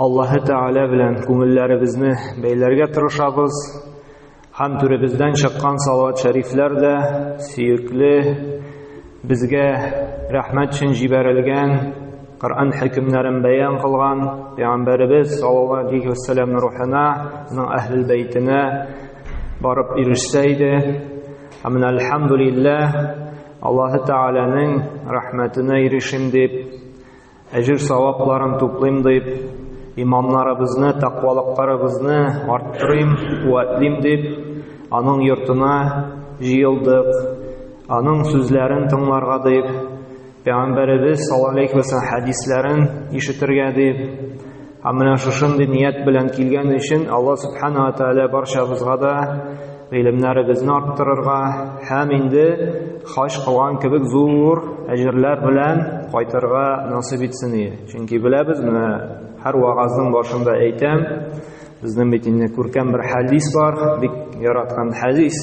Аллаһы Тәгалә белән күңелләребезне бәйләргә тырышабыз. Һәм түребездән чыккан салават шәрифләр дә сөекле безгә рәхмәт өчен җибәрелгән Коръән хөкемнәрен бәян кылган пәйгамбәребез саллаллаһу алейһи вәссәламның рухына, аның әһлил бәйтенә барып ирешсә иде. Һәм менә альхамдулиллаһ Аллаһы Тәгаләнең рәхмәтенә ирешим дип Әҗер-савапларын туплыйм дип, иманнарыбызны, тәкъвалыкларыбызны арттырыйм, куәтлим дип, аның йортына җыелдык. Аның сүзләрен тыңларга дип, Пәйгамбәребез саллаллаһу алейхи ва хәдисләрен ишетергә дип, Һәм менә шушындый ният белән килгән өчен Алла Субхану ва Тааля барчабызга да гыйлемнәребезне арттырырга һәм инде хаҗ кылган кебек зур әҗерләр белән кайтырга насыйп итсен ие. Чөнки беләбез, менә һәр вагазның башында әйтәм, безнең бит инде күркәм бер хәдис бар, бик яраткан хәдис.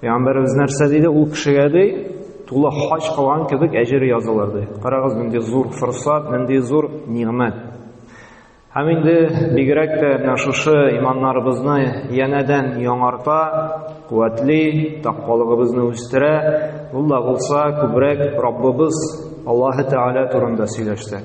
Пәйгамбәребез нәрсә диде ул кешегә ди? Тулы хаҗ кылган кебек әҗере язылыр ди. Карагыз, нинди зур форсат, нинди зур нигъмәт. Һәм инде бигрәк тә менә шушы иманнарыбызны янәдән яңарта, куәтли, тәкъвалыгыбызны үстерә. Ул да булса күбрәк Раббыбыз Аллаһы Тәгалә турында сөйләшсәк.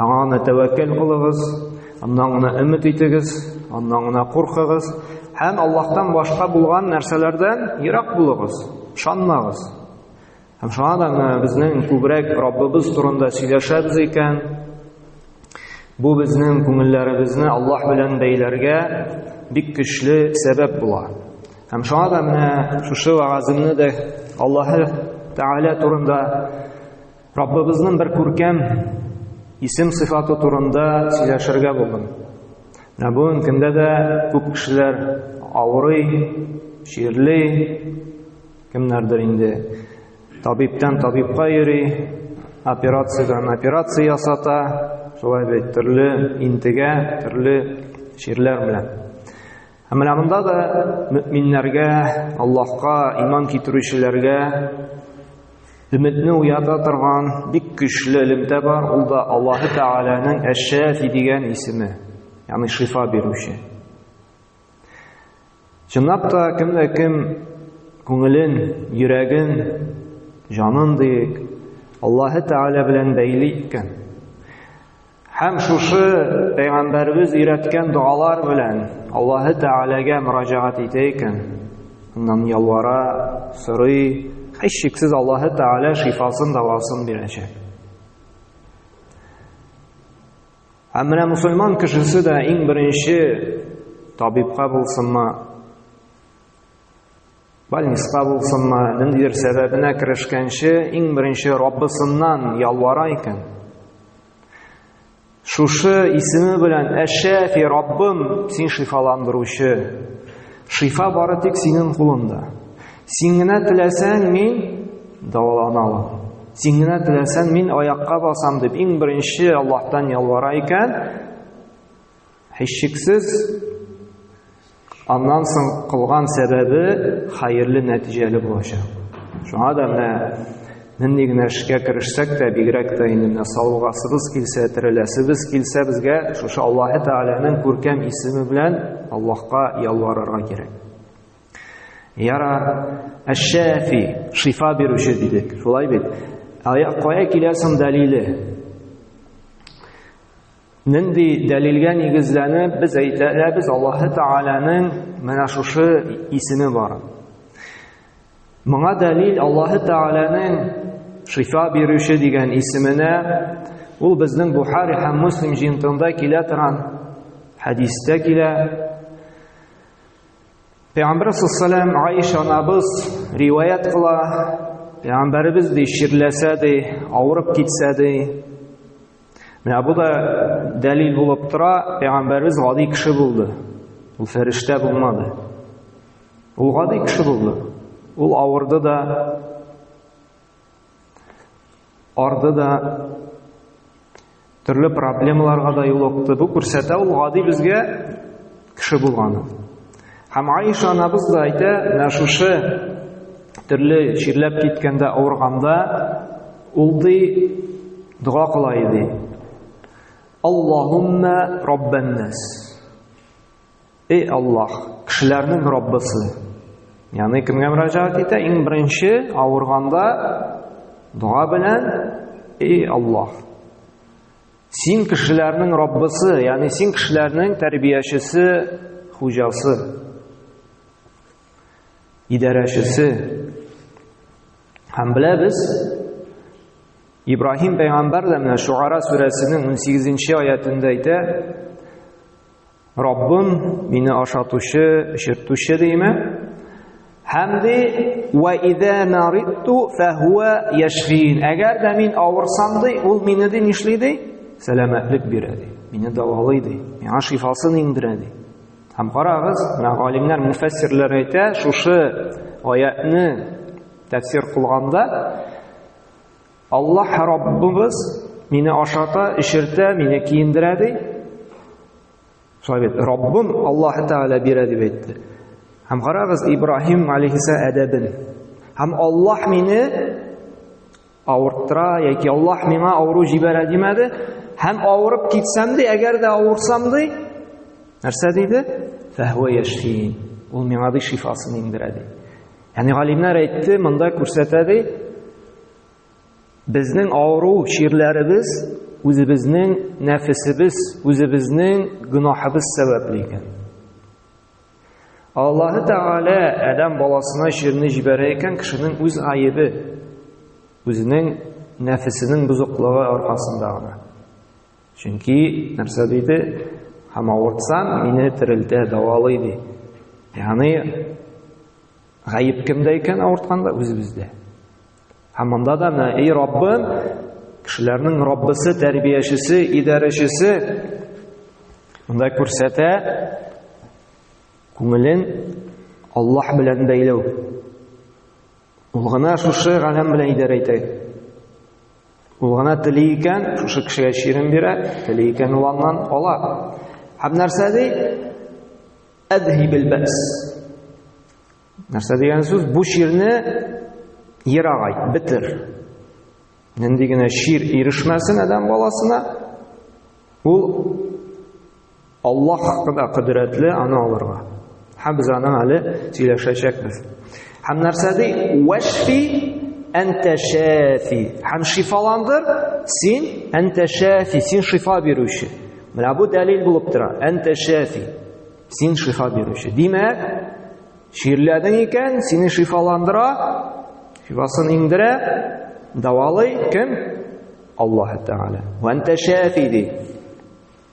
Аңа гына тәвәккәл кылыгыз, аннан гына өмет итегез, аннан гына куркыгыз һәм Аллаһтан башка булган нәрсәләрдән ерак булыгыз, ышанмагыз. Һәм шуңа да менә безнең күбрәк Раббыбыз турында сөйләшәбез икән, бу безнең күңелләребезне Аллаһ белән бәйләргә бик көчле сәбәп була. Һәм шуңа да менә шушы вагазымны да Аллаһы Тәгалә турында Раббыбызның бер күркәм исем сыйфаты турында сөйләшергә булдым. Ә бүген көндә дә күп кешеләр авырый, чирли, кемнәрдер инде табиптан табибка йөри, операциядән операция ясата, шулай бит төрле интегә, төрле чирләр белән. Ә менә монда да мөминнәргә, Аллаһка иман китерүчеләргә өметне уята торган бик көчле элемтә бар, ул да Аллаһы Тәгаләнең Әш-Шафи дигән исеме, ягъни шифа бирүче. Чынлап та кемдә кем күңелен, йөрәген, җанын диек, Аллаһы Тәгалә белән бәйли икән, Һәм шушы пәйгамбәребез өйрәткән догалар белән Аллаһы Тәгаләгә мөрәҗәгать итә икән, аннан ялвара, сорый, һичшиксез Аллаһы Тәгалә шифасын, дәвасын бирәчәк. Һәм менә мусульман кешесе дә иң беренче табибка булсынмы, Бальниска булсынмы, ниндидер сәбәбенә керешкәнче, иң беренче Раббысыннан ялвара икән. Шушы исеме белән Әшәфи Раббым, син шифаландыручы. Шифа бары тик синең кулыңда. Син генә теләсәң, мин дәвалана алам. Син генә теләсәң, мин аякка басам дип, иң беренче Аллаһтан ялвара икән. Һичшиксез, аннан соң кылган сәбәбе хәерле нәтиҗәле булачак. Шуңа да менә нинди генә эшкә керешсәк тә, бигрәк тә инде менә савыгасыбыз килсә, тереләсебез килсә, безгә шушы Аллаһ Тәгаләнең күркәм исеме белән Аллаһка ялварырга кирәк. Яра Әш-Шәфи, шифа бирүче дидек. Шулай бит. Ая кая киләсең дәлиле? Нинди дәлилгә нигезләнеп без әйтәбез Аллаһы Тәгаләнең менә шушы исеме бар. Моңа дәлил Аллаһы Тәгаләнең шифа бирүче дигән исеменә ул безнең Бухари һәм Муслим җыентыгында килә торган хәдистә килә. Пәйгамбәр саллаллаху Аиша анабыз риваят кыла. Пәйгамбәребез ди, чирләсә ди, авырып китсә ди, Менә бу да дәлил булып тора, пәйгамбәрбез гади кеше булды. Ул фәрештә булмады. Ул гади кеше булды. Ул авырды да, арды да, төрле проблемаларга да юлыкты. Бу күрсәтә ул гади безгә кеше булганы. Һәм Аиша анабыз да әйтә, менә шушы төрле чирләп киткәндә, авырганда ул ди дога кыла иде. Аллаһумма раббаннас. Эй Аллаһ, кешеләрнең Раббысы. Яны кемгә мөрәҗәгать итә? Иң беренче авырганда дога белән, эй Аллаһ, Син кешеләрнең Раббысы, ягъни син кешеләрнең тәрбиячесе, хуҗасы, идарәчесе. Һәм беләбез, Ибраһим пәйгамбәр дә менә Шугара сүрәсенең 18 нче аятында әйтә, Раббым, мине ашатучы, эчертүче дейме? Һәм ди, "Ва ида нариту фахуа яшфин". Әгәр дә мин авырсам ди, ул мине ди нишли ди? Сәламәтлек бирә ди. Мине дәвалый ди. Миңа шифасын иңдерә ди. Һәм карагыз, менә галимнәр, муфәссирләр әйтә, шушы аятны тәфсир кылганда Аллаһ Раббыбыз мине ашата, эчертә, мине киендерә ди. Шулай бит, Раббым Аллаһ Тәгалә бирә дип әйтте. Һәм карагыз Ибраһим алейхиса әдәбен. Һәм Аллаһ мине авырттыра яки Аллаһ миңа авыру җибәрә димәде. Һәм авырып китсәм ди, әгәр дә авырсам ди, нәрсә диде? Фәһвә яшфин. Ул миңа ди шифасын иңдерә ди. Яни галимнәр әйтте, монда күрсәтә ди, безнең авыру чирләребез үзебезнең нәфесебез, үзебезнең гөнаһыбыз сәбәпле икән. Аллаһы Тәгалә Адәм баласына чирне җибәрә икән кешенең үз гаебе, үзенең нәфесенең бузыклыгы аркасында гына. Чөнки нәрсә диде? Һәм авыртсаң, мине терелтә, давалый ди. Ягъни гаеп кемдә икән авыртканда? Үзебездә. Һәм монда да менә эй Раббым, кешеләрнең Раббысы, тәрбиячесе, идарәчесе монда күрсәтә күңелен Аллаһ белән бәйләү. Ул гына шушы галәм белән идарә итә. Ул гына тели икән, шушы кешегә чирем бирә, тели икән ул аннан ала. Һәм нәрсә ди? Әдһибел бәс. Нәрсә дигән сүз? Бу чирне ерагай, бетер. Нинди генә чир ирешмәсен адәм баласына, ул Аллаһ кына кодрәтле аны алырга. Һәм без аның әле сөйләшәчәкбез. Һәм нәрсә ди? Вәшфи әнтә шәфи. Һәм шифаландыр син әнтә шәфи, син шифа бирүче. Менә бу дәлил булып тора. Әнтә шәфи. Син шифа бирүче. Димәк, чирләдең икән, сине шифаландыра, шифасын иңдерә, давалый кем? Аллаһ Тәгалә. Вәнтә шәфи ди.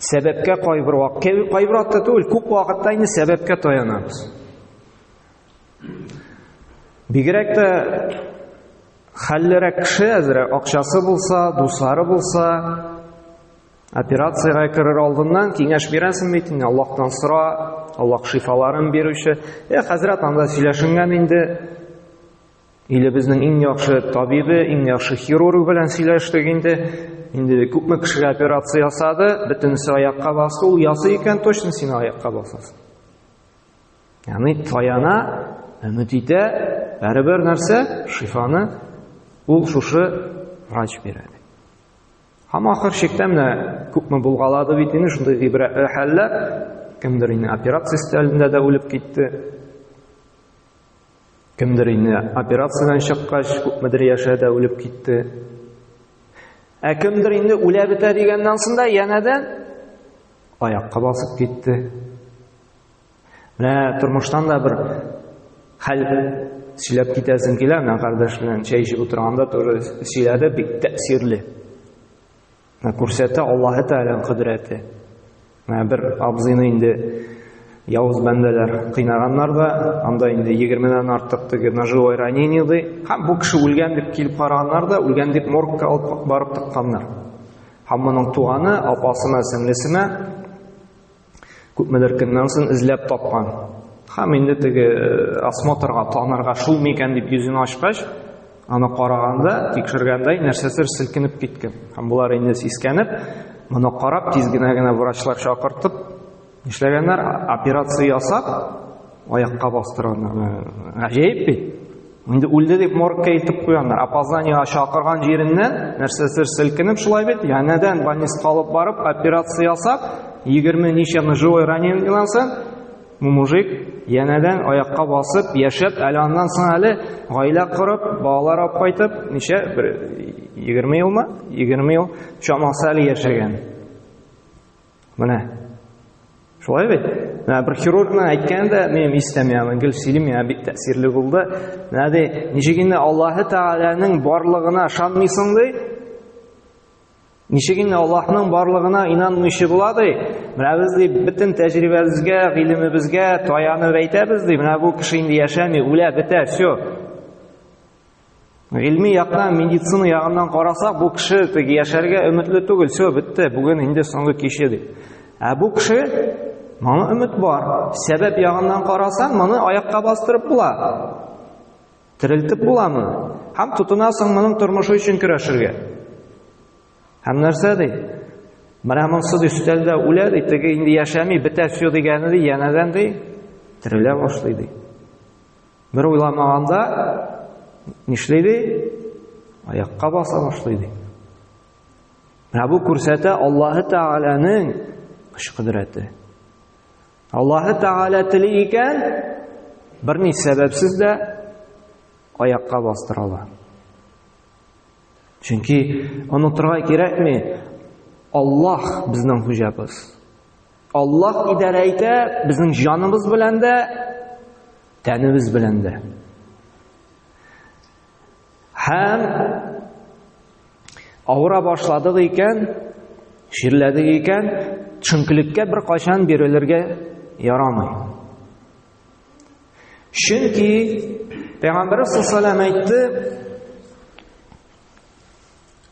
Сәбәпкә кайбер вакыт, кайбер вакытта түгел, күп вакытта инде сәбәпкә таянабыз. Бигрәк тә хәллерәк кеше әзер акчасы булса, дуслары булса, операциягә керер алдыннан киңәш бирәсең бит инде, Аллаһтан сора, Аллаһ шифаларын бирүче. Э, хәзрәт анда сөйләшенгән инде. Илебезнең иң яхшы табибы, иң яхшы хирург белән сөйләштек инде. Инде күпме кешегә операция ясады, бөтенесе аякка басты, ул ясый икән, точно син аякка басасың. Ягъни таяна, өмет итә, бәрібір нәрсә, шифаны ул шушы врач бирә. Һәм ахыр чиктә менә күпме булгалады бит инде шундый гыйбрәтле хәлләр, кемдер инде операция өстәлендә дә үлеп китте. Кемдер инде операциядән чыккач, күпмедер яшә дә үлеп китте. Ә кемдер инде үлә бетә дигәннән соң да янәдән аякка басып китте. Менә тормыштан да бер хәл сөйләп китәсем килә, менә кардәш белән чәй эчеп утырганда тоже сөйләде, бик тәэсирле. Күрсәтә Аллаһы Тәгаләнең кодрәте. Менә бер абзыйны инде явыз бәндәләр кыйнаганнар да, анда инде 20-дән артык теге ножевой ранение ди. Һәм бу кеше үлгән дип килеп караганнар да, үлгән дип моргка алып барып тыкканнар. Һәм моның туганы, апасына, сеңлесенә Күпмедер көннән соң эзләп тапкан. Һәм инде теге э, осмотрга танырга шул микән дип йөзен ачкач, аны караганда, тикшергәндә нәрсәдер селкенеп киткән. Һәм болар инде сискәнеп, моны карап тиз генә генә врачлар чакыртып, нишләгәннәр? Операция ясап, Аякка бастырганнар. Гаҗәеп бит. Инде үлде дип моргка илтеп куяннар. Опозданиега чакырган җиреннән нәрсәсер селкенеп шулай бит. Янәдән больницага алып барып операция ясап, 20 ничә ножевой ранениедән соң бу мужик янәдән аякка басып, яшәп, әле аннан соң әле гаилә корып, балалар алып кайтып, ничә бер 20 елмы? 20 ел чамасы әле яшәгән. Менә. Шулай бит. Менә бер хирургның әйткәне дә минем истәм яна гел сөйлим я бик тәэсирле булды. Менә ди, ничек инде Аллаһы Тәгаләнең барлыгына ышанмыйсың ди? Ничек инде Аллаһның барлыгына инанмыйчы була ди? Менә без ди бөтен тәҗрибәбезгә, гыйлемебезгә таянып әйтәбез ди, менә бу кеше инде яшәми, үлә, бетә, все. Гыйльми яктан, медицина ягыннан карасак, бу кеше тик яшәргә өметле түгел. Все, бетте. Бүген инде соңгы киче дип. Ә бу кеше моны өмет бар. Сәбәп ягыннан карасаң, моны аякка бастырып була. Терелтеп була моны. Һәм тотынасың моның тормышы өчен көрәшергә. Һәм нәрсә ди? Менә монсыз өстәлдә үлә ди, теге инде яшәми, бетә все дигәне ди, янәдән ди, терелә башлый ди. Бер уйламаганда нишли ди? Аякка баса башлый ди. Менә бу күрсәтә Аллаһы Тәгаләнең көч кодрәте. Аллаһы Тәгалә тели икән, берни сәбәпсез дә аякка бастыра ала. Чөнки онытырга кирәкми, Аллаһ безнең хуҗабыз. Аллаһ идарә итә безнең җаныбыз белән дә, тәнебез белән дә. Һәм авыра башладык икән, ширләдек икән, чөнкелеккә бер кайчан бирелергә ярамый. Чөнки Пәйгамбәрбез саллаллаһу әйтте,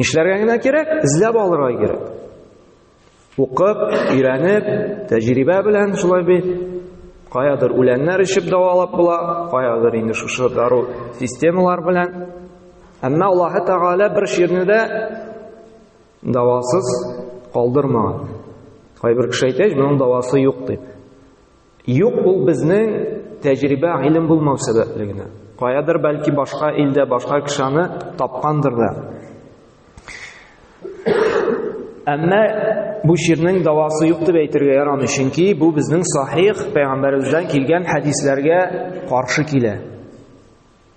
Нишләргә генә кирәк? Эзләп алырга кирәк. Укып, өйрәнеп, тәҗрибә белән шулай бит. Каядыр үләннәр эчеп дәвалап була, каядыр инде шушы дару системалар белән. Әмма Аллаһы Тәгалә бер ширне дә дәвасыз калдырмаган. Кайбер кеше әйтә, моның дәвасы юк дип. Юк, ул безнең тәҗрибә гыйлем булмау сәбәпле генә. Каядыр бәлки башка илдә башка кешене тапкандыр да. Әмма бу ширнең давасы юк дип әйтергә ярамый, чөнки бу безнең сахих пәйгамбәребездән килгән хәдисләргә каршы килә.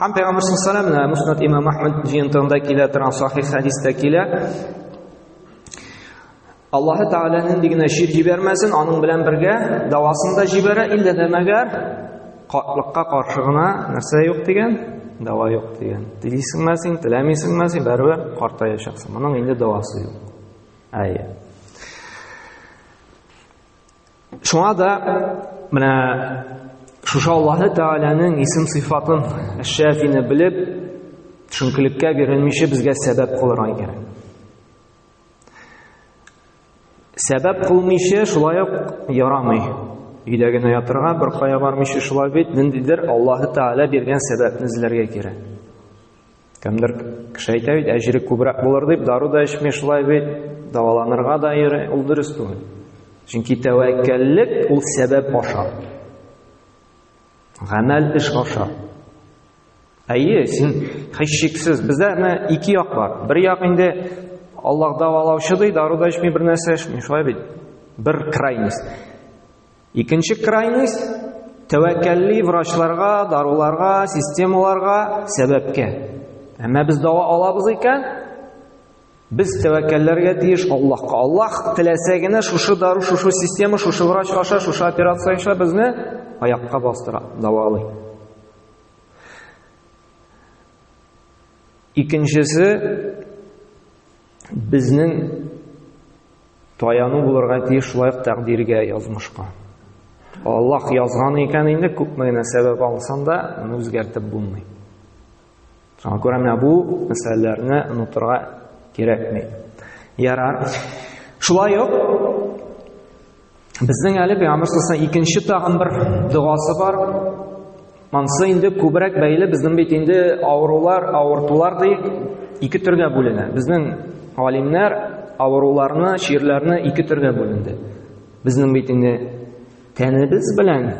Һәм Пәйгамбер саллаллаһу алейһи Муснат имам Ахмад җыентыгында килә торган сахих хәдистә килә. Аллаһы Тәгалә нинди генә шир җибәрмәсен, аның белән бергә дәвасын да җибәрә, иллә дә мәгәр катлыкка каршы гына нәрсә юк дигән, дәва юк дигән. Телисеңме син, теләмисеңме син, бәрвер картаячаксың. Моның инде дәвасы юк. Әйе. Шуңа да менә шушы Аллаһы Тәгаләнең исем сыйфатын Әш-Шәфине белеп, төшенкелеккә бирелмичә безгә сәбәп кылырга кирәк. Сәбәп кылмыйча шулай ук ярамый. Өйдә генә ятырга, бер кая бармыйча шулай бит, ниндидер Аллаһы Тәгалә биргән сәбәпне эзләргә кирәк. Кемдер кеше әйтә бит, әҗере күбрәк булыр дип, дару да эчми шулай бит, дәваланырга да йөри, ул дөрес түгел. Чөнки тәвәккәллек ул сәбәп аша. Гамәл эш аша. Әйе, син хәшшиксез. Бездә менә ике як бар. Бер як инде Аллаһ дәвалаучы ди, дару да эчми, бер нәрсә эчми, шулай бит. Бер крайность. Икенче крайность тәвәккәлли врачларга, даруларга, системаларга, сәбәпкә. Әмма без дава алабыз икән, без тәвәккәлләргә тиеш Аллаһка. Аллаһ теләсә генә шушы дару, шушы система, шушы врач аша, шушы операция аша безне аякка бастыра, давалый. Икенчесе Безнең таяну булырга тиеш шулай ук тәкъдиргә, язмышка. Аллаһ язган икән инде, күпме генә сәбәп алсаң да, моны үзгәртеп булмый. Шуңа күрә менә бу мәсьәләләрне онытырга кирәкми. Ярар. Шулай ук Безнең әле пәйгамбер сасына икенче тагын бер догасы бар. Мансы инде күбрәк бәйле безнең бит инде авырулар, авыртулар ди ике төргә бүленә. Безнең галимнәр авыруларны, чирләрне ике төргә бүленде. Безнең бит инде тәнебез белән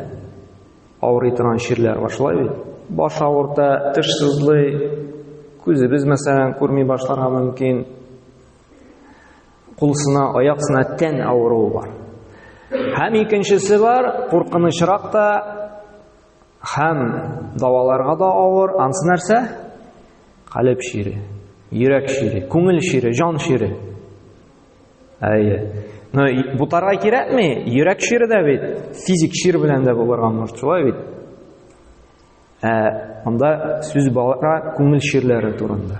авырый торган чирләр бар, шулай бит. Баш авырта, теш сызлый, күзебез мәсәлән күрми башларга мөмкин, кулсына, аяксына тән авыруы бар. Һәм икенчесе бар, куркынычрак та һәм даваларга да авыр, ансы нәрсә? Калеб шире, йөрәк шире, күңел шире, җан шире. Әйе. Но бутарга кирәкми, йөрәк шире дә бит, физик шир белән дә булырга мөмкин, шулай бит. Ә анда сүз бара күңел ширләре турында.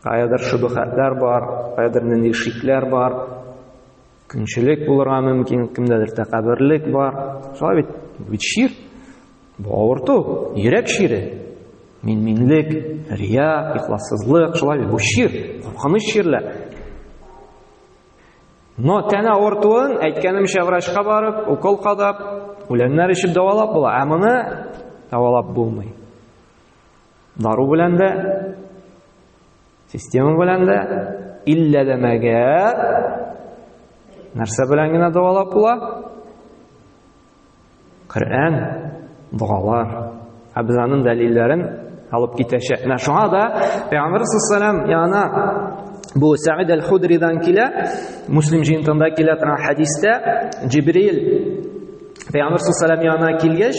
Каядыр шөбһәтләр бар, каядыр нинди шикләр бар. Көнчелек булырга мөмкин, кемдәдер тәкәбберлек бар. Шулай бит, бит чир. Бу авырту, йөрәк чире. Мин-минлек, рия, ихлассызлык, шулай бит, бу чир, куркыныч чирләр. Но тәне авыртуын, әйткәнемчә, врачка барып, укол кадап, үләннәр эчеп дәвалап була. Ә моны дәвалап булмый. Дару белән дә, система белән дә, илләләмәгә нәрсә белән генә дәвалап була? Коръән, догалар. Ә без аның дәлилләрен алып китәчәк. Менә шуңа да Пәйгамбер саллаллаху яна бу Сәид аль-Худридан килә, Муслим җыентында килә торган хәдистә Җибрил Пәйгамбер саллаллаху яна килгәч,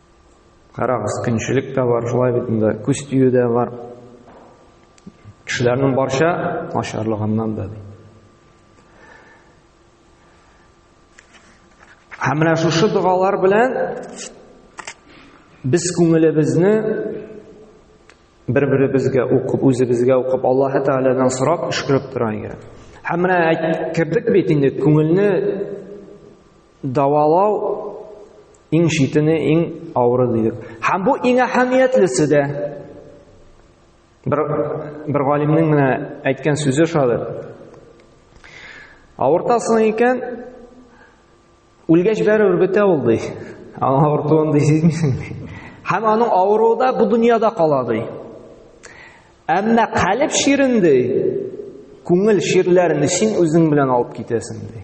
Карагыз, көнчелек тә бар, шулай бит инде, күз тию дә бар. Кешеләрнең барча начарлыгыннан да. Һәм менә шушы догалар белән без күңелебезне бер-беребезгә укып, үзебезгә укып, Аллаһ Тәгаләдән сорап, өшкереп тора иде. Һәм менә кердек бит инде күңелне Дәвалау иң читене, иң авыры дидек. Һәм бу иң әһәмиятлесе дә. Бер бер галимнең менә әйткән сүзе шулай. Авыртасың икән, үлгәч бәрәбер бетә ул ди. Аңа авыртуын ди сизмисең ди. Һәм аның авыруы да бу дөньяда кала ди. Әмма калеб ширен ди, күңел ширләрен син үзең белән алып китәсең ди.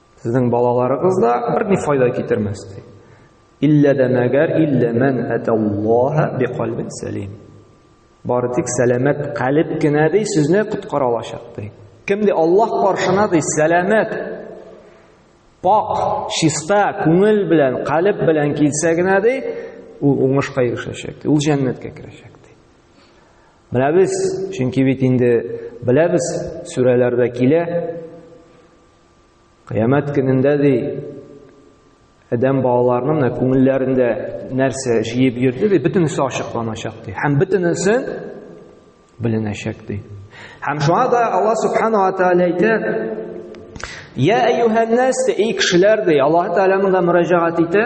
Сезнең балаларыгыз да бер ни файда китермәс ди. Иллә дә мәгәр иллә мән аталлаһа биқалбин сәлим. Бары тик сәламәт калиб кенә ди сезне коткара алачак ди. Кем ди Аллаһ каршына ди сәламәт пак, чиста күңел белән, калиб белән килсә генә ди, ул уңышка ирешәчәк. Ул җәннәткә керәчәк ди. Менә без, чөнки бит инде беләбез, сүрәләрдә килә, Кыямәт көнендә ди адәм балаларының менә күңелләрендә нәрсә җыеп йөрде ди, бөтенесе ачыкланачак ди. Һәм бөтенесе беленәчәк ди. Һәм шуңа да Алла субхана ва тааля әйтә: "Я әйюһән нас, эй кешеләр" ди, Аллаһ тааляның да мөрәҗәгать итә.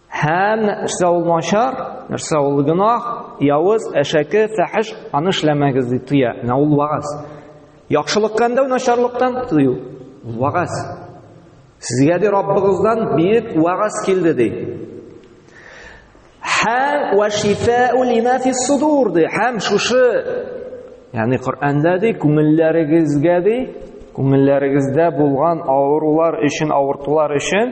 Һәм нәрсә ул начар, нәрсә ул гөнаһ, явыз, әшәке, фәхеш, аны эшләмәгез дип тыя. Менә ул вагаз. Яхшылыкка өндәү, начарлыктан тыю. Вагаз. Сезгә ди Раббыгыздан бик вагаз килде ди. Һәм ва шифау лима фи судур ди. Һәм шушы Ягъни Коръәндә ди, күңелләрегезгә ди, күңелләрегездә булган авырулар өчен, авыртулар өчен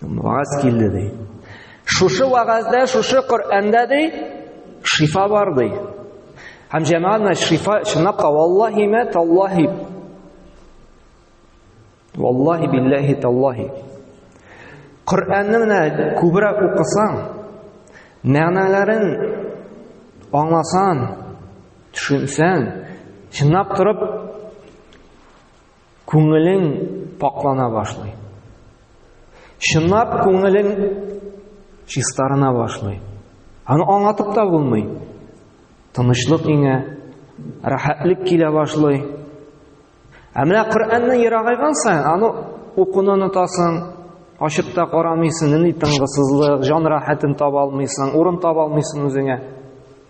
Вагаз килде ди. Шушы вагазда, шушы Коръәндә ди, шифа бар ди. Һәм җәмәгатьне шифа чынлап та валлаһи мә таллаһи. Валлаһи биллаһи таллаһи. Коръәнне менә күбрәк укысаң, мәгънәләрен аңласаң, төшенсәң, чынлап торып Күңелең пакьлана башлый. Чынлап күңелең чистарына башлый. Аны аңлатып та булмый. Тынычлык иңә, рәхәтлек килә башлый. Ә менә Коръәнне ерагайган саен аны укуны онытасың, ачып та карамыйсың, ни тынгысызлык, җан рәхәтен таба алмыйсың, урын таба алмыйсың үзеңә.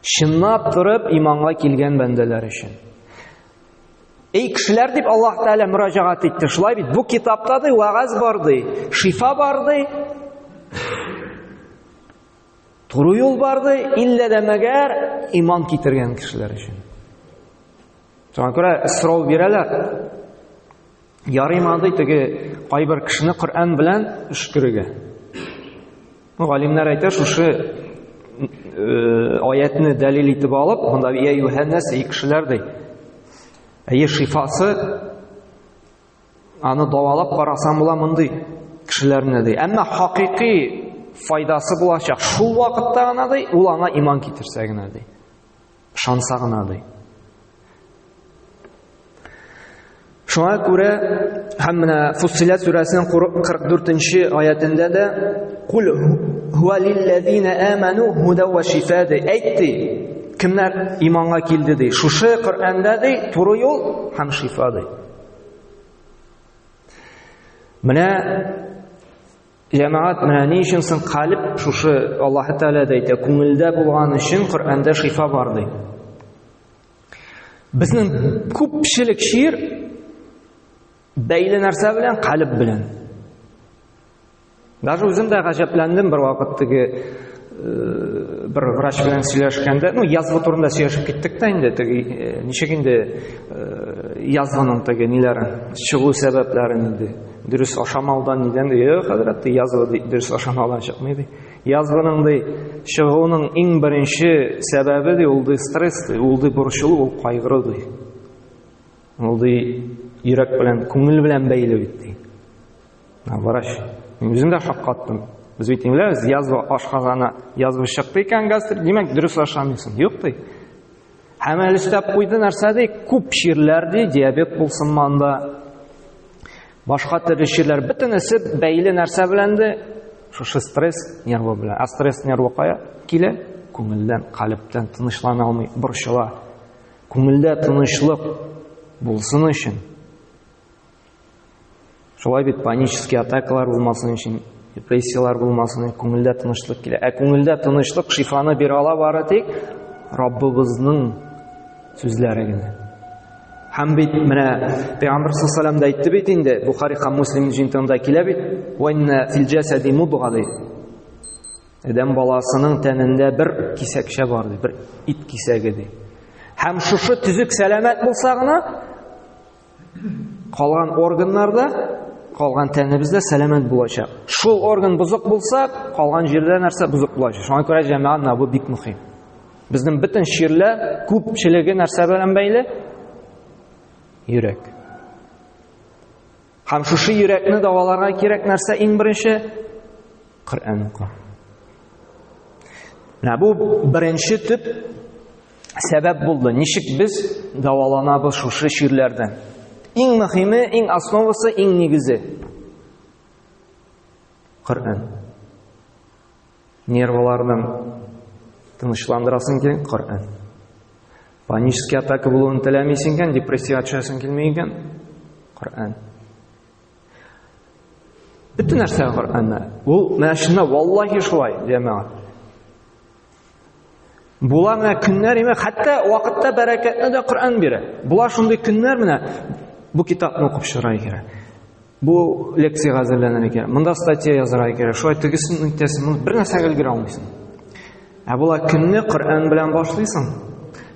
Чынлап торып иманга килгән бәндәләр өчен. Эй кешеләр дип Аллаһ Тәгалә мөрәҗәгать итте. Шулай бит бу китапта ди вагаз бар ди, шифа бар ди. Туры юл бар ди, иллә дә мәгәр иман китергән кешеләр өчен. Шуңа күрә сорау бирәләр. Ярыймады теге кайбер кешене Коръән белән өшкерергә. Ну, галимнәр әйтә, шушы э, аятны дәлил итеп алып, монда я юһәннәс, эй кешеләр ди. Әйе, шифасы аны давалап карасаң була мондый кешеләрне ди. Әмма хакыйкый файдасы булачак. Шул вакытта гына ди, ул аңа иман китерсә генә ди. Ышанса гына, ди. Шуңа күрә һәм менә Фуссилат сүрәсенең 44-нче аятендә дә кул хуа лилләзина аману худа ва шифа ди. Әйтте, кемнәр иманга килде ди. Шушы Коръәндә ди, туры юл һәм шифа ди. Менә Җәмәгать, менә ни өчен соң калиб шушы Аллаһ Тәгалә дә әйтә, күңелдә булган өчен Коръәндә шифа бар ди. Безнең күпчелек шир бәйле нәрсә белән, калиб белән. Даже үзем дә гаҗәпләндем бер вакыт теге э, бер врач белән сөйләшкәндә, ну язгы турында сөйләшеп киттек тә инде, теге э, ничек инде э, язгының теге ниләре, чыгу сәбәпләрен инде. Дөрес ашамаудан нидән ди? Э, хәзрәт, ди, язва ди, дөрес ашамаудан чыкмый ди. Язваның ди, чыгуының иң беренче сәбәбе ди, ул ди стресс ди, ул ди борчылу, ул кайгыру ди. Ул ди йөрәк белән, күңел белән бәйле бит ди. Врач, мин үзем дә шаккаттым. Без бит ингләбез, язва ашказана, язва чыкты икән гастрит, димәк, дөрес ашамыйсың. Юк ди. Һәм әле өстәп куйды нәрсә ди? Күп чирләр ди, диабет булсын манда. Башка төрле чирләр бөтенесе бәйле нәрсә белән ди? Шушы стресс нервы белән. А стресс нервы кая килә? Күңелдән, калептән тынычлана алмый, борчыла. Күңелдә тынычлык булсын өчен Шулай бит панический атакалар булмасын өчен, депрессияләр булмасын, күңелдә тынычлык килә. Ә күңелдә тынычлык шифаны бирә ала бары тик Раббыбызның сүзләре генә. Һәм бит менә Пәйгамбер саллаллаху алейһи әйтте бит инде, Бухари һәм Муслим җинтында килә бит, "Ва инна фил жасади мудга" ди. Адәм баласының тәнендә бер кисәкчә бар ди, бер ит кисәге ди. Һәм шушы төзек сәламәт булса гына, Калган органнарда, калган тәнебездә сәламәт булачак. Шул орган бозык булса, калган җирдә нәрсә бозык булачак. Шуңа күрә җәмәгать менә бу бик мөһим. Безнең бөтен чирле күпчелеге нәрсә белән бәйле? Йөрәк. Һәм шушы йөрәкне даваларга кирәк нәрсә иң беренче? Коръән уку. Менә бу беренче төп сәбәп булды. Ничек без дәваланабыз шушы чирләрдән? Иң мөһиме, иң основасы, иң нигезе. Коръән. Нервларны тынычландырасың икән, Коръән. Панический атака булуын теләмисең икән, депрессия төшәсең килми икән, Коръән. Бөтен нәрсә Коръәннә. Ул менә шунда валлаһи шулай, җәмәгать. Була менә көннәр име, хәтта вакытта бәрәкәтне дә Коръән бирә. Була шундый көннәр менә бу китапны укып чыгарга кирәк. Бу лекция әзерләнергә кирәк. Монда статья язарга кирәк. Шулай тегесен үтәсен, моны бер нәрсә өлгерә алмыйсың. Ә була көнне Коръән белән башлыйсың.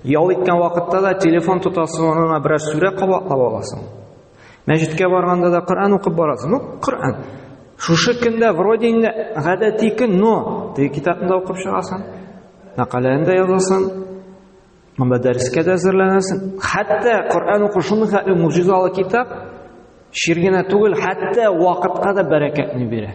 Ял иткән вакытта да телефон тотасың, онына берәр сүрә кабатлап аласың. Мәҗиткә барганда да Коръән укып барасыз. Ну, Коръән. Шушы көндә вроде инде гадәти көн, но теге китапны да укып чыгасың. Мәкаләне дә язасың. Монда дәрескә дә әзерләнәсең. Хәтта Коръән уку шундый хәтле муҗизалы китап, шир генә түгел, хәтта вакытка да бәрәкәтне бирә.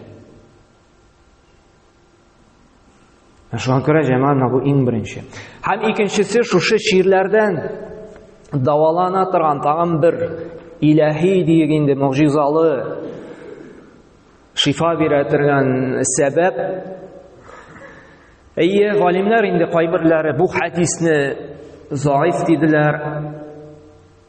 Шуңа күрә җәмәгать нагу иң беренче. Һәм икенчесе шушы чирләрдән давалана торган тагын бер иләһи диек инде могҗизалы шифа бирә торган сәбәп. Әйе, галимнәр инде кайберләре бу хәдисне заиф диделәр.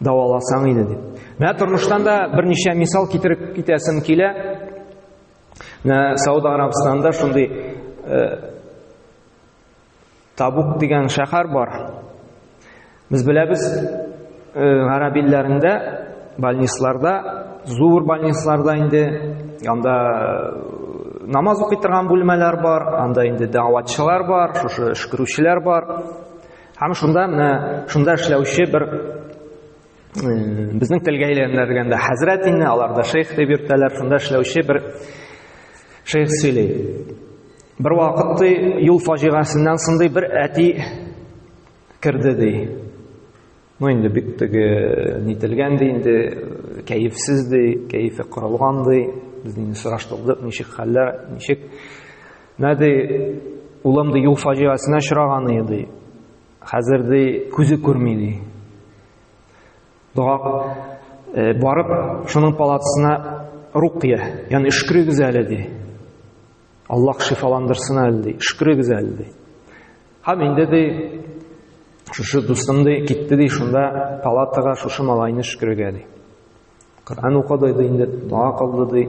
дәваласаң иде дип. Менә тормыштан да берничә мисал китереп китәсем килә. Менә Сауд Арабстанында шундый э, Табук дигән шәһәр бар. Без беләбез, э, гарәп илләрендә больницларда, зур больницларда инде анда э, намаз укый торган бүлмәләр бар, анда инде дәватчылар бар, шушы эшкерүчеләр бар. Һәм шунда менә шунда эшләүче бер безнең телгә әйләндергәндә хәзрәт инде, аларда шейх дип йөртәләр, шунда эшләүче бер шейх сөйли. Бер вакыт юл фаҗигасеннән сондый бер әти керде ди. Ну инде бик теге нителгән ди, инде кәефсез ди, кәефе кырылган ди. Без инде сораштырдык, ничек хәлләр, ничек Менә ди, улым ди, юл фаҗигасенә очраган иде ди. Хәзер ди, күзе күрми ди. Дога э, барып, шуның палатасына рукия, ягъни шөкрегез әле ди. Аллаһ шифаландырсын әле ди, шөкрегез әле ди. Һәм инде ди, шушы дустым ди, китте ди, шунда палатага шушы малайны шөкрегә ди. Коръән укыды ди, инде дога кылды ди.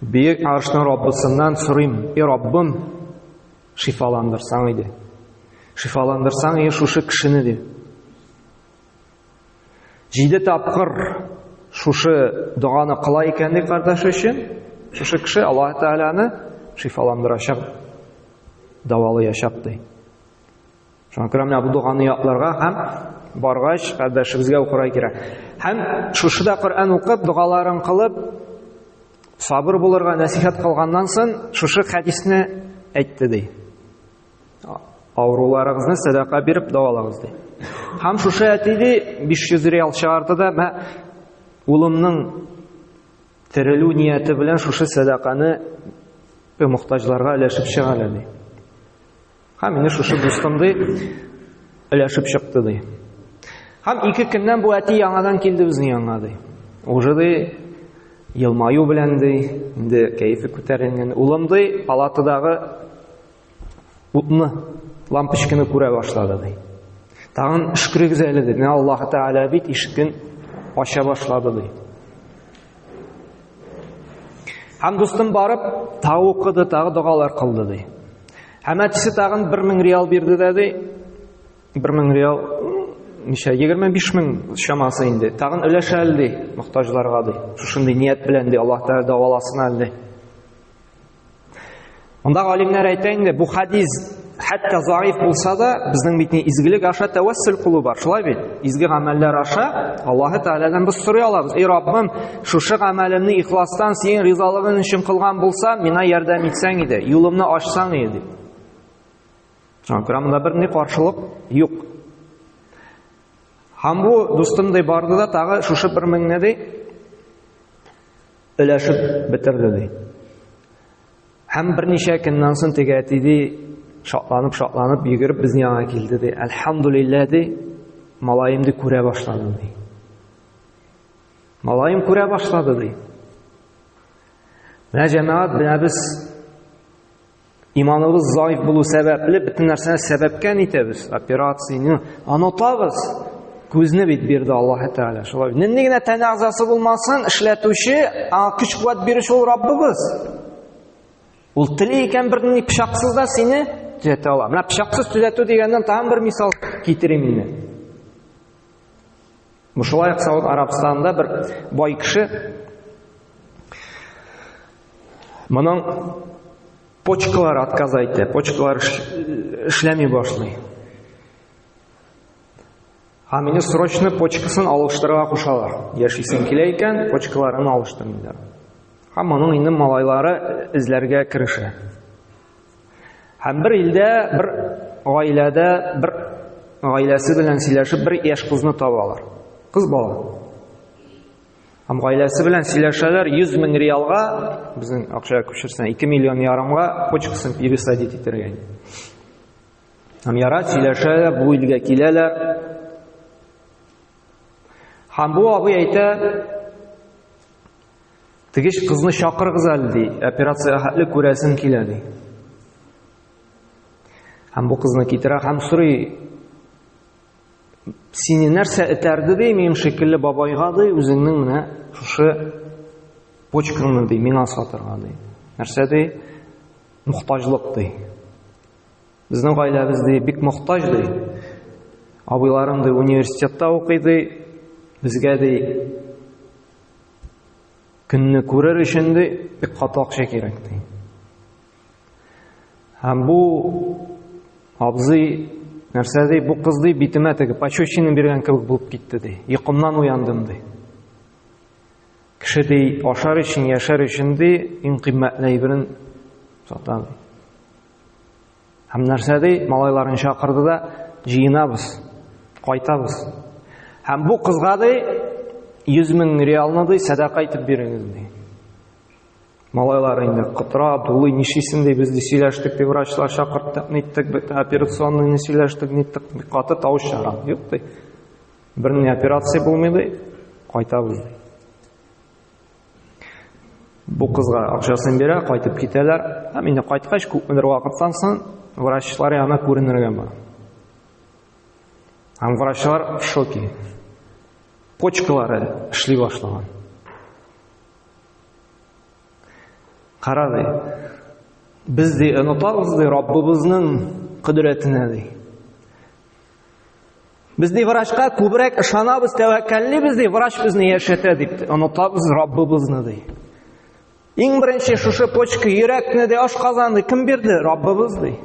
Бөек Аршның Раббысыннан сорыйм, и Раббым, шифаландырсаң иде. Шифаландырсаң иде шушы кешене ди. Җиде тапкыр шушы доганы кыла икән ди кардәш өчен, шушы кеше Аллаһ Тәгаләне шифаландырачак, давалаячак ди. Шуңа күрә менә бу доганы якларга һәм баргач кардәшебезгә укырга кирәк. Һәм шушыда Коръән укып, догаларын кылып, сабыр булырга нәсихәт кылганнан соң шушы хәдисне әйтте ди. Авыруларыгызны сәдака биреп давалагыз ди. Һәм шушы әти ди 500 реал чыгарды да, мә улымның терелү нияте белән шушы сәдаканы мөхтаҗларга өләшеп чыгар әле. Һәм менә шушы дустым ди, өләшеп чыкты ди. Һәм ике көннән бу әти яңадан килде безнең янга ди. Уже ди, елмаю белән ди, инде кәефе күтәрелгән. Улым ди, палатадагы утны, лампочканы күрә башлады ди. Тагын шүкрегез әле ди. Менә Аллаһ Тәгалә бит ишекне ача башлады ди. Һәм дустым барып, тау укыды, тагы догалар кылды ди. Һәм әтисе тагын 1000 реал бирде дә ди. 1000 реал ничә 25 мең чамасы инде. Тагын өләшә әле ди, мохтаҗларга ди. Шушындый ният белән ди, Аллаһ Тәгалә дәваласын әле ди. Монда галимнәр әйтә инде, бу хадис хәтта заиф булса да, безнең бит ни изгелек аша тәвәссүл кылу бар, шулай бит? Изге гамәлләр аша Аллаһ Тәгаләдән без сорый алабыз. Эй Раббым, Шушы гамәлемне ихластан синең ризалыгың өчен кылган булса, миңа ярдәм итсәң иде, юлымны ачсаң иде. Күрәмендә бер ни каршылык юк. Һәм бу дустымдай барды да тагы шушы бер меңне ди өләшеп бетерде ди. Һәм берничә көннән соң теге әти ди шатланып шатланып йөгереп безнең янга килде ди. Әлхәмдулиллаһ ди, малаем ди күрә башлады ди. Малаем күрә башлады, ди. Менә җәмәгать менә без иманыбыз заиф булу сәбәпле бөтен нәрсәне сәбәпкә итәбез. Операцияне онытабыз. Күзне бит бирде Аллаһ Тәгалә. Шулай. Нинди генә тәне әгъзасы булмасын, эшләтүче, аңа көч-куәт бирүче ул Раббыбыз. Ул тели икән бер ни пычаксыз да сине төзәтә ала. Менә пычаксыз төзәтү дигәннән тагын бер мисал китерим инде. Бу шулай ук Сауд Арабстанында бер бай кеше моның почкалары отказ әйтә, почкалар эшләми башлый. А мине срочно почкасын алыштырырга кушалар. Яшисең килә икән, почкаларын алыштыр диләр. Һәм моның инде малайлары эзләргә керешә. Һәм бер илдә, бер гаиләдә, бер гаиләсе белән сөйләшеп, бер яшь кызны табалар. Кыз бала. Һәм гаиләсе белән сөйләшәләр 100 мең реалга, безнең акчага күчерсәң 2 миллион ярымга почкасын пересадить итәргә. Һәм яра сөйләшәләр, бу илгә киләләр. Һәм бу абый әйтә, Тегеш кызны чакырыгыз әле, ди, операция хәтле күрәсем килә, ди. Һәм бу кызны китерә һәм сорый, сине нәрсә этәрде, ди, минем шикелле бабайга, ди, үзеңнең менә шушы почкаңны, ди, миңа сатырга, ди. Нәрсә, ди, мохтажлык, ди. Безнең гаиләбез, ди, бик мохтаж, ди. Абыйларым, ди, университетта укый, ди, безгә, ди, Көнне күрер өчен дә бик каты акча кирәк ди. Һәм бу абзый нәрсә ди, бу кыз ди битемә теге пощечина биргән кебек булып китте ди. Йокымнан уяндым ди. Кеше ди ашар өчен, яшәр өчен ди иң кыйммәтле әйберен сата ди. Һәм нәрсә ди, малайларын чакырды да, җыенабыз, кайтабыз. Һәм бу кызга ди, 100 мең реалны ди, сәдака итеп бирегез ди. Малайлар инде кытра, дулый, нишисен ди, без ди сөйләштек, ди, врачлар чакырттык, ниттек, бит операционный сөйләштек, ниттек, каты тавыш чара. Юк ди. Берни операция булмый ди, кайтабыз ди. Бу кызга акчасын бирә, кайтып китәләр. Һәм инде кайткач, күпмедер вакыттан соң врачлар янына күренергә бар. Һәм врачлар в шоке. Почкалары эшли башлаган. Кара ди. Без ди онытабыз ди Раббыбызның кодрәтенә ди. Без ди врачка күбрәк ышанабыз, тәвәккәллибез ди, врач безне яшәтә дип, онытабыз Раббыбызны ди. Иң беренче шушы почка, йөрәкне дә ашказанны кем бирде? Раббыбыз ди.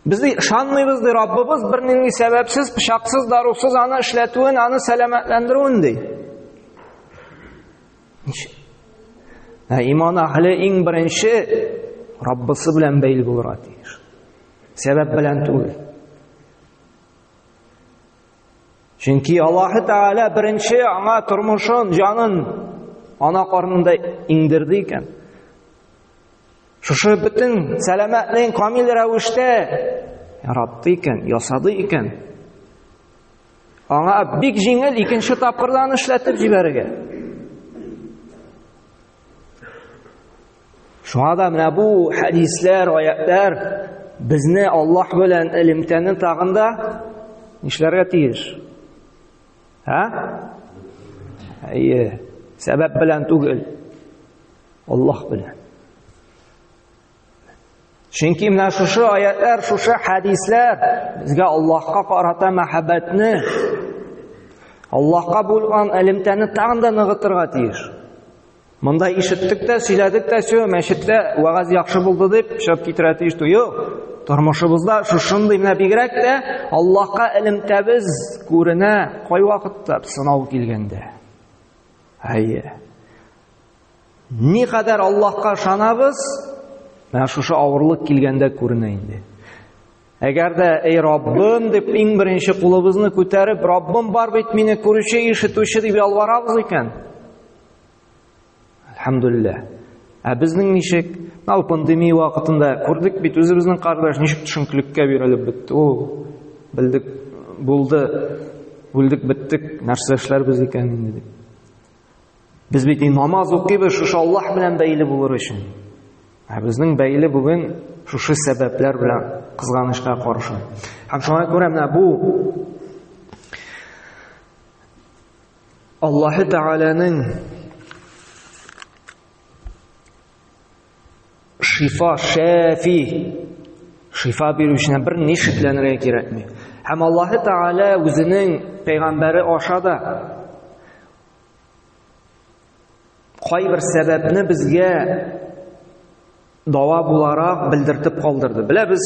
Без ди ышанмыйбыз ди, Раббыбыз бернинди сәбәпсез, пычаксыз, дарусыз аны эшләтүен, аны сәламәтләндерүен ди. Ничек? Ә иман әһле иң беренче Раббысы белән бәйле булырга тиеш. Сәбәп белән түгел. Чөнки Аллаһ Тәгалә беренче аңа тормышын, җанын ана карнында иңдерде икән. Шушы бөтен сәламәтлеген камил рәвештә яратты икән, ясады икән. Аңа бик җиңел икенче тапкырдан эшләтеп җибәрергә. Шуңа да менә бу хәдисләр, аятлар безне Аллаһ белән элемтәне тагында нишләргә тиеш? Һә? Әйе, сәбәп белән түгел. Аллаһ белән. Чөнки менә шушы аятлар, шушы хәдисләр безгә Аллаһка карата мәхәббәтне, Аллаһка булган элемтәне тагын да ныгытырга тиеш. Монда ишеттек тә, сөйләдек тә, сөю, мәчеттә вагаз яхшы булды дип чап китерә тиеш түгел. Тормышыбызда шушындый менә бигрәк тә Аллаһка элемтәбез күренә кайвакытта сынау килгәндә. Әйе. Никадәр Аллаһка ышанабыз, менә шушы авырлык килгәндә күренә инде. Әгәр дә эй Раббым дип иң беренче кулыбызны күтәреп, Раббым бар бит мине күрүче, ишетүче дип ялварабыз икән. Әлхәмдулиллаһ. Ә безнең ничек? Мал пандемия вакытында күрдек бит үзебезнең кардәш ничек төшенкелеккә бирелеп бетте. О, белдек, булды, бүлдек биттек, нәрсә эшләрбез икән инде дип. Без бит намаз укыйбыз шушы Аллаһ белән бәйле булыр өчен. Ә безнең бәйле бүген шушы сәбәпләр белән кызганычка каршы. Һәм шуңа күрә менә бу Аллаһы Тәгаләнең Шифа, шәфи. Шифа бирү өчен бер ни шикләнергә кирәкми. Һәм Аллаһ Тәгалә үзенең пәйгамбәре аша да кайбер сәбәпне безгә дава буларак белдертеп калдырды. Беләбез,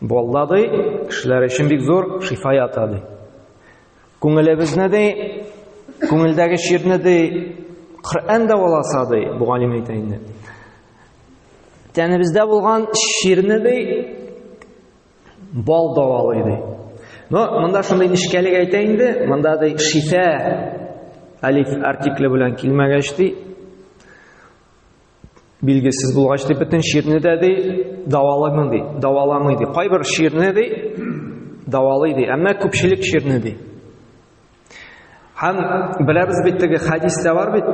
Болда ди, кешеләр өчен бик зур шифа ята ди. Күңелебезне ди, күңелдәге чирне ди, Коръән дәваласа ди, бу галим әйтә инде. Тәнебездә булган чирне ди, бал дәвалый ди. Но монда шундый нишкәлек әйтә инде, монда ди шифа алиф артикле белән килмәгәч ди, Билгесез булгач дип бөтен чирне дә ди, даваламый ди, даваламый ди. Кайбер чирне ди, давалый ди, әмма күпчелек чирне ди. Һәм беләбез бит теге хадистә бар бит.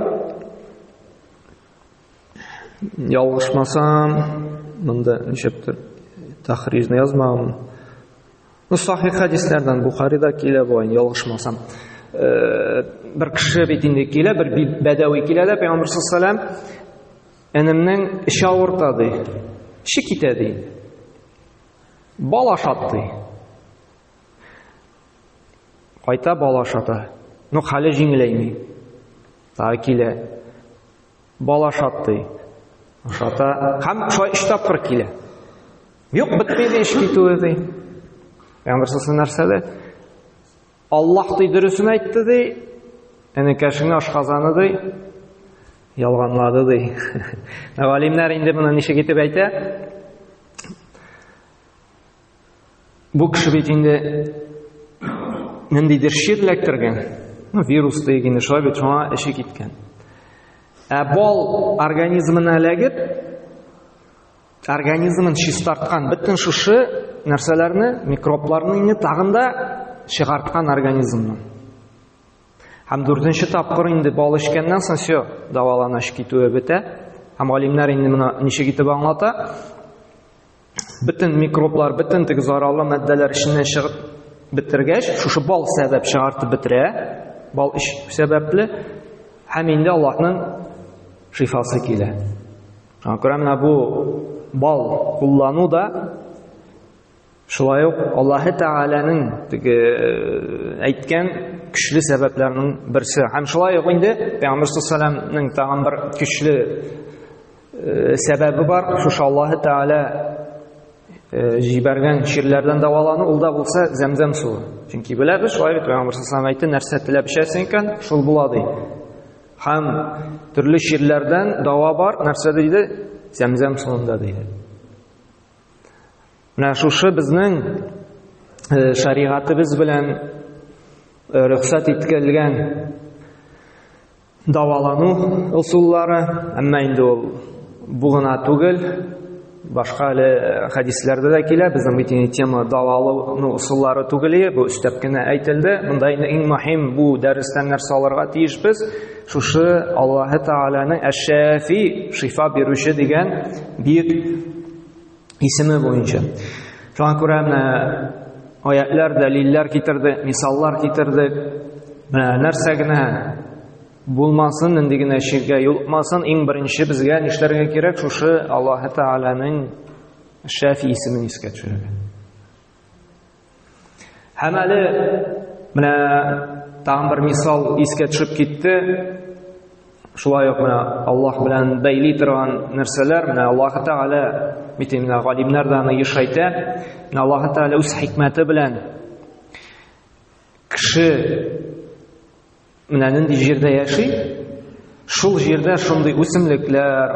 Ялгышмасам, монда ничектер тахрижны язмаган. Ну, сахих хадисләрдән Бухарида килә бу, ялгышмасам. Э, бер кеше бит инде килә, бер бәдәви килә дә Пәйгамбер саллаллаху алейһи энемнең эче авырта ди. Эче китә ди. Бал ашат ди. Кайта бал ашата. Ну, хәле җиңеләйми. Тагы килә. Бал ашат ди. Ашата. Һәм шулай өч тапкыр килә. Юк, бетми ди эш китүе ди. Пәйгамбер сасы нәрсә ди? Аллаһ ди дөресен әйтте ди. Энекәшеңне ашказаны ди. Ялганлады ди. Галимнәр инде моны ничек итеп әйтә? Бу кеше бит инде ниндидер шир эләктергән. Ну, вирус диген инде шулай бит шуңа эше киткән. Ә бал организмына эләгеп, организмын чистарткан бөтен шушы нәрсәләрне микробларны инде тагын да чыгарткан организмны һәм дүртенче тапкыр инде бал эчкәннән соң все дәваланыш китүе бетә һәм галимнәр инде моны ничек итеп аңлата бөтен микроблар бөтен теге зарарлы матдәләр эченнән чыгып бетергәч шушы бал сәбәп чыгартып бетерә бал эч сәбәпле һәм инде аллаһның шифасы килә Кыры менә бу бал куллану да шулай ук Аллаһы Тәгаләнең теге э, әйткән көчле сәбәпләрнең берсе. Һәм шулай ук инде Пәйгамбер саллаллаһу тагын бер көчле э, сәбәбе бар. Шушы Аллаһы Тәгалә э, җибәргән чирләрдән дәвалану ул да булса зәмзәм суы. Чөнки беләбез, шулай бит Пәйгамбер саллаллаһу әйтте, нәрсә теләп эчәсең икән, шул була ди. Һәм төрле чирләрдән дава бар, нәрсә диде? Зәмзәм суында диде. Менә шушы безнең э, шаригатыбыз белән э, рөхсәт иткәлгән давалану ысуллары, әмма инде ул бу гына түгел, Башка әле хәдисләрдә дә килә, безнең бит инде тема дала алуның ысуллары түгел, бу өстәп кенә әйтелде. Монда инде иң мөһим бу дәрестән нәрсә алырга тиеш без? Шушы Аллаһы Тааляның Әш-Шафи, шифа бирүче дигән бик исеме буенча. Шуңа күрә менә аятлар, дәлилләр китерде, мисаллар китерде. Менә нәрсә генә Булмасын, нинди генә ширкә юлыкмасын, иң беренче безгә нишләргә кирәк? Шушы Аллаһы Тәгаләнең Шәфи исемен искә төшерергә. Һәм әле менә тагын бер мисал искә төшеп китте. Шулай ук менә Аллаһ белән бәйли торган нәрсәләр, менә Аллаһ Тәгалә бит инде галимнәр дә аны еш әйтә. Менә Аллаһ Тәгалә үз хикмәте белән кеше Менә нинди җирдә яши, шул җирдә шундый үсемлекләр,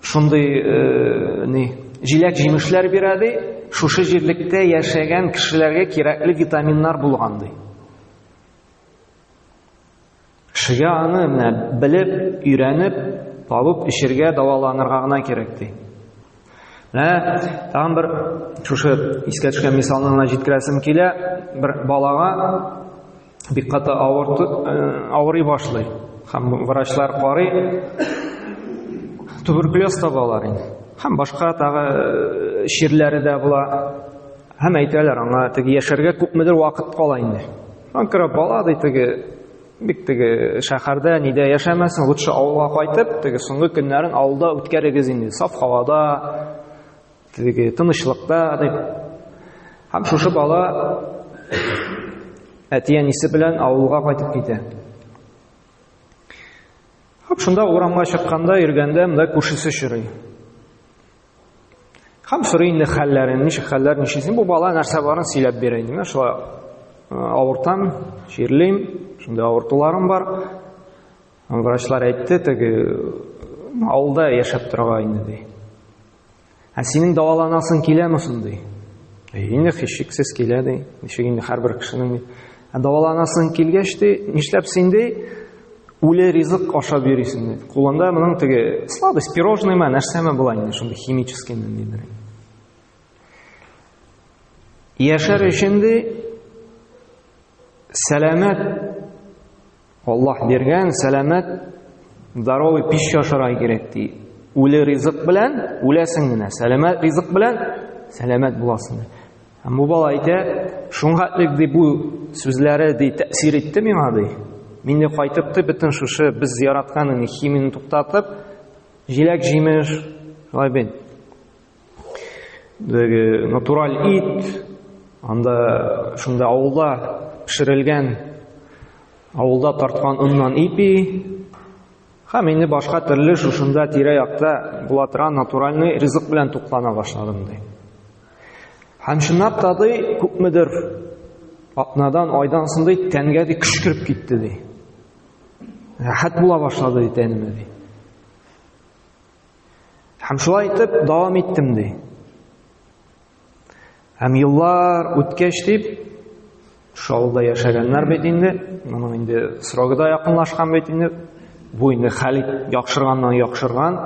шундый э, ни, җиләк җимешләр бирә ди, шушы җирлектә яшәгән кешеләргә кирәкле витаминнар булган ди. Шыя аны менә белеп, өйрәнеп, табып эчергә, дәваланырга гына кирәк ди. Менә тагын бер шушы искә төшкән мисалны гына җиткерәсем килә. Бер балага бик каты авырты, э, авырый башлый. Һәм врачлар карый, туберкулез табалар инде. Һәм башка тагы э, чирләре дә була. Һәм әйтәләр аңа, теге яшәргә күпмедер вакыт кала инде. Анкара бала ди теге бик теге шәһәрдә нидә яшәмәсен, лучше авылга кайтып, теге соңгы көннәрен авылда үткәрегез инде. Саф һавада, теге тынычлыкта дип. Һәм шушы бала әти-әнисе белән авылга кайтып китә. Һәм шунда урамга чыкканда, йөргәндә, монда күршесе чорый. Хәм сорый инде хәлләрен, ничек хәлләр, ничесен. Бу бала нәрсә барын сөйләп бирә инде. Мен шулай э, авыртам, чирлим, шундый авыртуларым бар. Врачлар әйтте, теге авылда яшәп торга инде ди. Ә синең дәваланасың киләме соң ди. Инде хишексез килә ди. Ничек инде һәрбер кешенең Ә даваланасың килгәч ди, нишләп син ди, үле ризык ашап йөрисең ди. Кулында моның теге сладость, пирожный ма, нәрсәме була инде, шундый химический ме дидер. Яшәр өчен ди сәламәт Аллаһ биргән сәламәт здоровый пища ашарга кирәк ди. Үле ризык белән үләсең генә, сәламәт ризык белән сәламәт буласың. Һәм бу бала әйтә, шуңа элек ди бу сүзләре ди тәэсир итте миңа ди. Мин дә кайтып ди бөтен шушы без яраткан химияне туктатып, җиләк-җимеш, шулай бит. Теге натураль ит, анда шунда авылда пешерелгән, авылда тарткан оннан ипи, һәм инде башка төрле шушында тирә-якта була торган натуральный ризык белән туклана башладым ди. Һәм чынлап та ди, күпмедер атнадан, айдан соң ди, тәнгә ди көч кереп китте ди. Рәхәт була башлады ди тәнемә ди. Һәм шулай итеп дәвам иттем ди. Һәм еллар үткәч дип шаулда яшәгәннәр бит инде, моның инде срогы да якынлашкан бит инде. Бу инде хәл яхшырганнан яхшырган.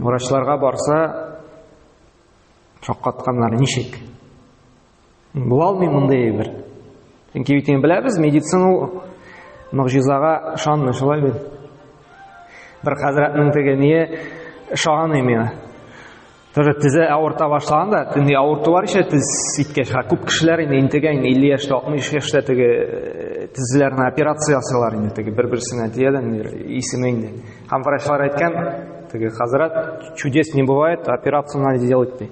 Врачларга барса шаккатканнар ничек? Була алмый мондый әйбер. Чөнки бит беләбез, медицина ул могҗизага ышанмый, шулай бит. Бер хәзрәтнең теге ние ышаганый миңа. Тоже тизе авырта башлаган да, төнди авырту бар ишә тиз ситкәч, ха күп кешеләр инде интегә инде 50 яшьтә, 60 яшьтә теге э, тизләрне операция ясыйлар инде теге бер-берсенә диядән исеме инде. Һәм врачлар әйткән, теге хәзрәт чудес не бывает, операцияне делать ди.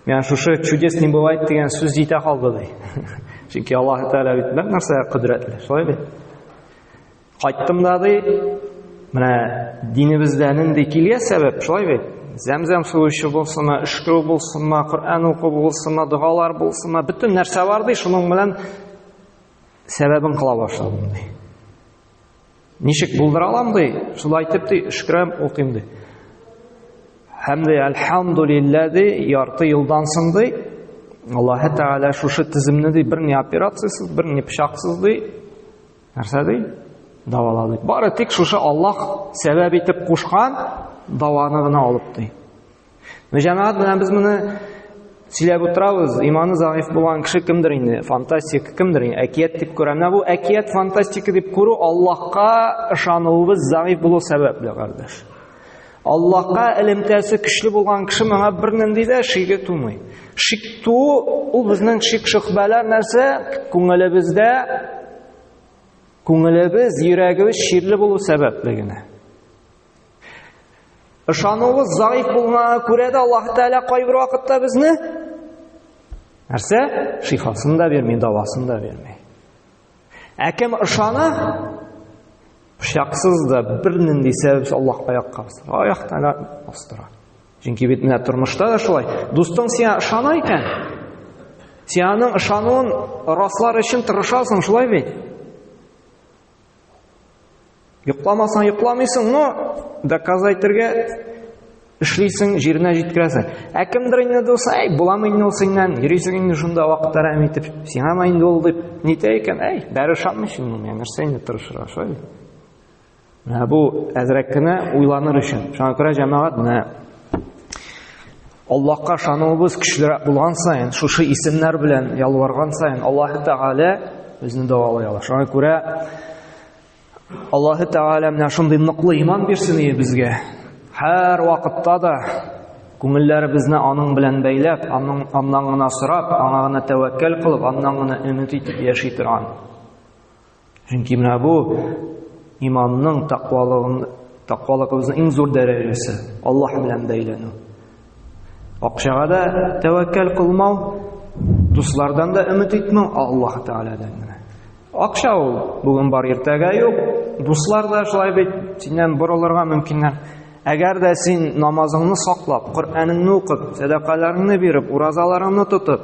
Менә шушы чудес не бывает дигән сүз җитә калды ди. Чөнки Аллаһ Тәгалә бит нәкъ нәрсә кодрәтле, шулай бит. Кайттым да ди, менә динебездә нинди килгән сәбәп, шулай бит. Зәмзәм суы эчү булсынмы, өшкерү булсынмы, Коръән уку булсынмы, догалар булсынмы, бөтен нәрсә бар ди, шуның белән сәбәбен кыла башладым ди. Ничек булдыра алам ди? Шулай итеп ди, шөкрәм укыйм ди. Һәм дә әлхамдулиллә ди, ярты елдан соң ди, Аллаһ Тәгалә шушы тиземне ди, бер ни операциясез, бер ни пычаксыз ди, нәрсә ди? Давалады. Бары тик шушы Аллаһ сәбәп итеп кушкан даваны гына алып ди. Ну, җәмәгать белән без моны сөйләп утырабыз, иманы заиф булган кеше кемдер инде, фантастик кемдер инде, әкият дип күрә. Менә бу әкият фантастика дип күрү Аллаһка ышануыбыз заиф булу сәбәпле, кардәш. Аллаһка элемтәсе көчле булган кеше моңа бернинди дә шиге тумый. Шик ту ул безнең шик шөхбәләр нәрсә? Күңелебездә күңелебез, йөрәгебез ширле булу сәбәпле генә. Ышануыбыз заиф булганга күрә дә Аллаһ Тәгалә кайбер вакытта безне нәрсә? Шифасын да бирми, дәвасын да бирми. Ә кем ышана? Пычаксыз да бер нинди сәбәпсез Аллаһ аякка басыр. Аякта да бастыра. Чөнки бит менә тормышта да шулай. Дустың сиңа ышана икән, сиңаның ышануын раслар өчен тырышасың, шулай бит? Йокламасаң йокламыйсың, но доказайтергә эшлисең, җиренә җиткерәсең. Ә кемдер инде дусай, әй, буламы инде ул синнән, йөрисең инде шунда вакыт әрәм итеп, сиңа ма инде ул дип, нитә икән, әй, бәрі ышанмый шул миңа, нәрсә инде тырышырга, шулай бит. Менә бу әзрәк кенә уйланыр өчен. Шуңа күрә җәмәгать менә Аллаһка ышануыбыз көчлерәк булган саен, шушы исемнәр белән ялварган саен Аллаһ Тәгалә безне дәвалый ала. Шуңа күрә Аллаһ Тәгалә менә шундый ныклы иман бирсен ие безгә. Һәр вакытта да күңелләребезне аның белән бәйләп, аның аннан гына сорап, аңа гына тәвәккәл кылып, аннан гына өмет итеп яши торган. Чөнки менә бу иманның тәкъвалыгын тәкъвалыгыбызның иң зур дәрәҗәсе Аллаһ белән бәйләнү. Акчага да тәвәккәл кылмау, дуслардан да өмет итмәү Аллаһ Тәгаләдән генә. Акча ул бүген бар, иртәгә юк. Дуслар да шулай бит, синнән борылырга мөмкиннәр. Әгәр дә син намазыңны саклап, Коръәнеңне укып, сәдакаларыңны биреп, уразаларыңны тотып,